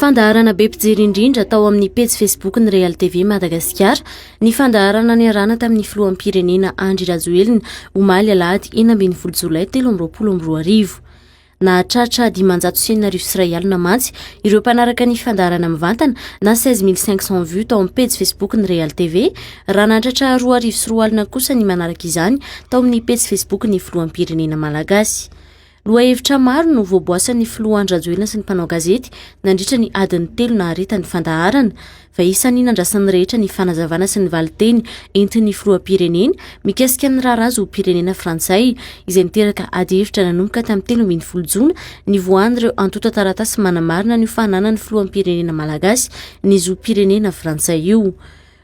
Fandaharana be mpijery indrindra tao amin'ny pejy Facebook ny Real TV Madagasikara ny fandaharana niarahana tamin'ny filoham-pirenena Andry Rajoelina omaly alahady enina ambin'ny folo jolay telo amby roapolo amby roa arivo. Nahatratra dimanjato sy enina arivo sy iray alina mantsy ireo mpanaraka ny fandaharana mivantana na 16500 vues tao amin'ny pejy Facebook ny Real TV raha nahatratra roa arivo sy roa alina kosa ny manaraka izany tao amin'ny pejy Facebook ny filoham-pirenena malagasy. Lohahevitra maro no voaboasan'ny filoha Andry Rajoelina sy ny mpanao gazety nandritra ny adiny telo nahareta ny fandaharana. Fa isan'ny nandrasan'ny rehetra ny fanazavana sy ny valinteny entin'ny filoham-pirenena mikasika ny raharaha zom-pirenena frantsay izay niteraka adihevitra nanomboka tamin'ny telo ambin'ny folo jona nivoahan'ireo antontan-taratasy manamarina an'io fananan'ny filoham-pirenena malagasy ny zom-pirenena frantsay io.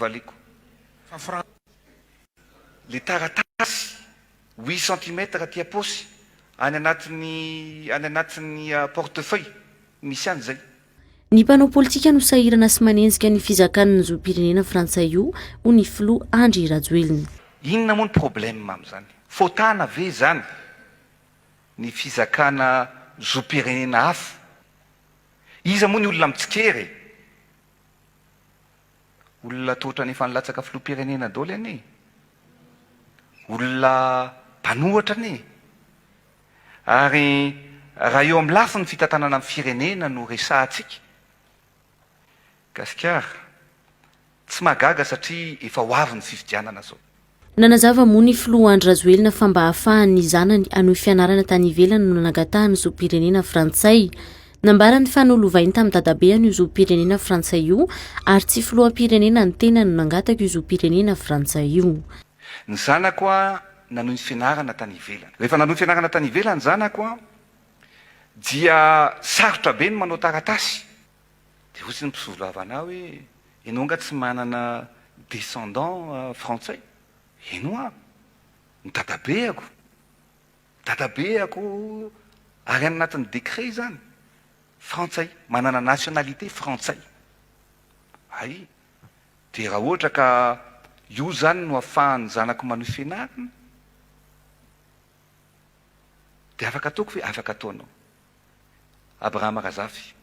valiako fa frantsay le taratasy huit centimètres aty apaosy any anatin'ny any anatin'ny porte feuille misy any zay. Ny mpanao politika no sahirana sy manenjika ny fizakan ny zom-pirenena frantsay io hoy ny filoha Andry Rajoelina. Inona moa ny problème amin'izany? Fotana ve izany ny fizakana zom-pirenena hafa? Iza moa ny olona mitsikera e? Olona toa otrany efa nilatsaka filoham-pirenena dôly anie e! Olona mpanohatra anie e! Ary raha eo amin'ny lafiny fitantanana ny firenena no resahantsika, Gasikara, tsy mahagaga satria efa ho avy ny fifidianana zao. Nanazava moa ny filoha Andry Rajoelina fa mba hahafahan'ny zanany hanohy fianarana tany ivelany no nanangatahany zom-pirenena frantsay. Nambarany fa nolovainy tamin'ny dadabeany io zom-pirenena frantsay io ary tsy filoham-pirenena ny tenany no nangataka io zom-pirenena frantsay io. Ny zanako nanohy ny fianarana tany ivelany. Rehefa nanohy fianarana tany ivelany ny zanako dia sarotra be ny manao taratasy. Dia hoy ny mpisolovava anah hoe, enao nga tsy manana descendant frantsay? Eno an! Ny dadabeako, ny dadabeako ary any anatin'ny décret izany, frantsay, manana nationalité frantsay. Hay! Dia raha ohatra ka io izany no afahan'ny zanako manohy fianarana, dia afaka ataoko ve? Afaka ataonao. Abraham Razafy,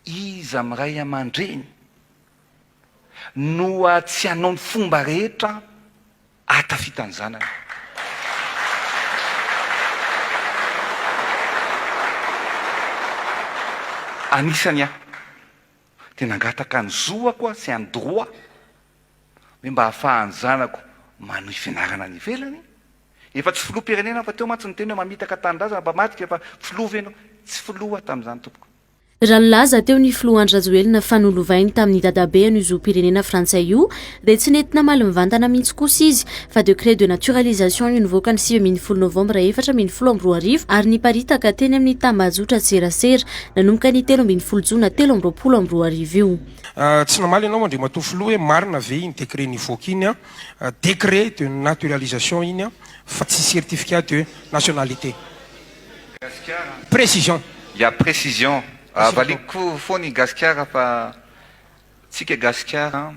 Iza amin'ny ray aman-dreny no tsy hanao ny fomba rehetra hahatafita ny zanany? Anisany aho. Dia nangataka ny zoako aho sy an'i Droit hoe mba ahafahan'ny zanako manohy fianarana any ivelany. Efa tsy filoham-pirenena aho fa teo mantsy niteny hoe mamitaka tanindrazana mba madika fa filoha ve ianao? Tsy filoha aho tamin'izany tompoko. Raha nilaza teo ny filoha Andry Rajoelina fa nolovainy tamin'ny dadabe an'io zom-pirenena frantsay io dia tsy nety namaly mivantana mihitsy kosa izy fa décret de naturalisation io nivoaka ny sivy ambin'ny folo novambra efatra ambin'ny folo amby roa arivo ary niparitaka teny amin'ny tambajotran-tserasera nanomboka ny telo ambin'ny folo jona telo amby roapolo amby roa arivo io. Tsy namaly ianao Andriamatoa Filoha hoe marina ve iny décret nivoaka iny, décret de naturalisation iny fa tsy certificat de nationalité? Précision. Ya, précision. Valiako foana i Gasikara fa Tsika gasikara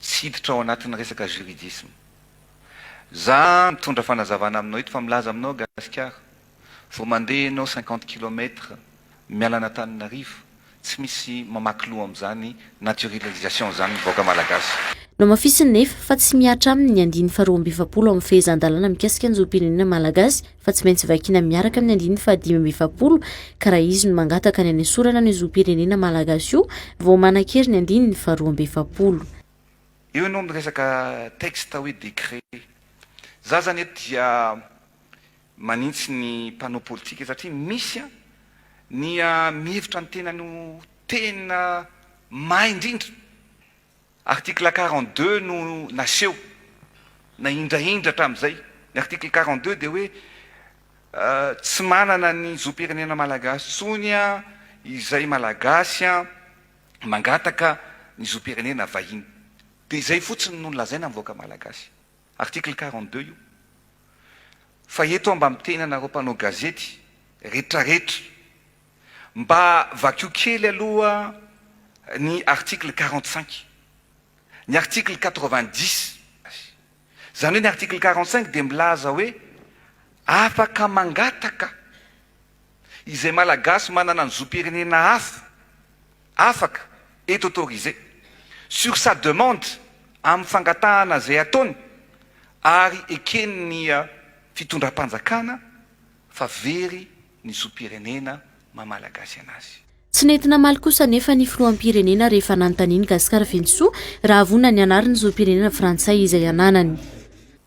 tsy hiditra ao anatin'ny resaka juridisme. Za mitondra fanazavana aminao eto fa milaza aminao gasikara vao mandeha enao cinquante kilomètre miala an'Antananarivo tsy misy mamaky loha amin'izany naturililisation zany ny vahoaka malagasy. Nohamafisiny nefa fa tsy mihatra aminy ny andininy faharoa amby efapolo amin'ny fehezan-dalàna mikasika ny zom-pirenena malagasy fa tsy maintsy vakiana miaraka amin'ny andininy fahadimy amby efapolo ka raha izy no mangataka ny hanesorana ny zom-pirenena malagasy io vao manan-kery ny andininy faharoa amby efapolo. Eo ianao miresaka texte hoe décret. Za zany eto dia manintsy ny mpanao politika satria misy an, ny mihevitra ny tenany ho tena may indrindra. Article quarante deux no naseho na indraindra hatramin'izay. Ny article quarante deux dia hoe tsy manana ny zom-pirenena malagasy intsony izay malagasy mangataka ny zom-pirenena vahiny. Dia izay fotsiny no lazaina amin'ny vahoaka malagasy. Article quarante deux io. Fa eto aho mba miteny anareo mpanao gazety retraretra Mba vakio kely aloha ny article quarante cinq, ny article quatre vingt dix. Izany hoe ny article quarante cinq dia milaza hoe afaka mangataka izay Malagasy manana ny zom-pirenena hafa, afaka, est autorisé, sur sa demande, amin'ny fangatahana izay ataony, ary eken'ny fitondram-panjakana fa very ny zom-pirenena maha Malagasy anazy. Tsy nety namaly kosa anefa ny filoham-pirenena rehefa nanontanian'i Gascar Venisoa raha vonona ny hanary ny zom-pirenena frantsay izay ananany.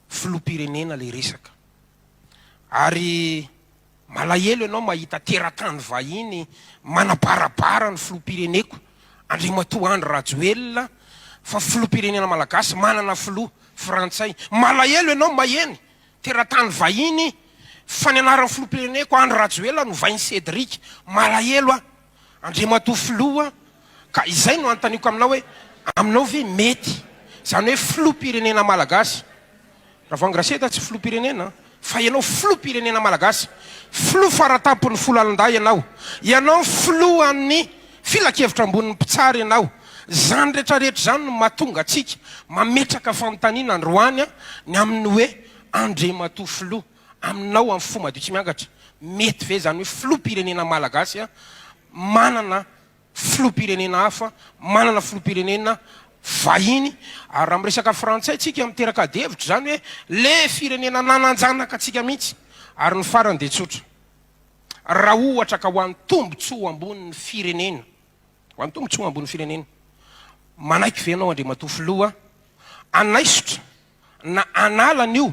Filoham-pirenena ilay resaka ary malahelo ianao mahita teratany vahiny manabarabara ny filoham-pireneko Andriamatoa Andry Rajoelina fa filoham-pirenena Malagasy manana filoha frantsay. Malahelo ianao maheno Teratany vahiny fa ny anaran'ny filoham-pireneko Andry Rajoelina no vain'i Cédric. Malahelo aho Andriamatoa Filoha ka izay no anontaniako aminao hoe aminao ve mety izany hoe filoham-pirenena malagasy? Ravangy Raseda tsy filoham-pirenena fa ianao filoham-pirenena malagasy. Filoha fara tampon'ny folo lalan-dahy ianao. Ianao ny filohan'ny. Filankevitra ambonin'ny mpitsara ianao. Izany rehetrarehetra izany no mahatonga antsika mametraka fanontaniana androany ny amin'ny hoe, Andriamatoa Filoha, aminao amin'ny fo madio tsy miangatra, mety ve izany hoe Filoham-pirenena Malagasy manana Filoham-pirenena hafa, manana Filoham-pirenena vahiny? Ary raha miresaka frantsay tsika miteraka adihevitra izany hoe le firenena nananjanaka antsika mihitsy. Ary ny farany dia tsotra. raha ohatra ka ho an'ny tombontsoa ambonin'ny firenena, ho an'ny tombontsoa ambonin'ny firenena, manaiky ve ianao Andriamatoa Filoha hanaisotra na hanala an'io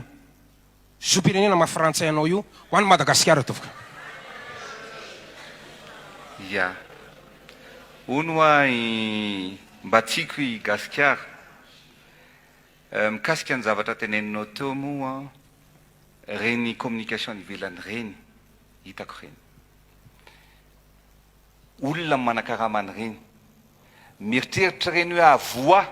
zom-pirenena maha frantsay anao io ho an'i Madagasikara tompoko? Ia. Hono hoa i Mbatsiko i Gasikara. Mikasika ny zavatra teneninao teo moa Reny communication any ivelany reny hitako reny. Olona manakarama any reny. Mieritreritra reny hoe avoa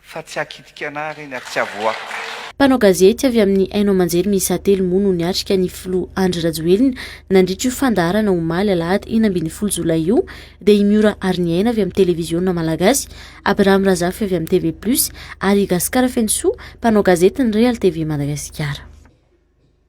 fa tsy hakitika anah reny ary tsy avoako. Mpanao gazety avy amin'ny haino aman-jery miisa telo moa no niatrika ny filoha Andry Rajoelina nandritra io fandaharana omaly alahady enina ambin'ny folo jolay io dia i Miora Ariniaina avy amin'ny televiziona malagasy Abraham Razafy avy amin'ny TV Plus ary i Gasikara Fenosoa, mpanao gazety ny Real TV Madagasikara.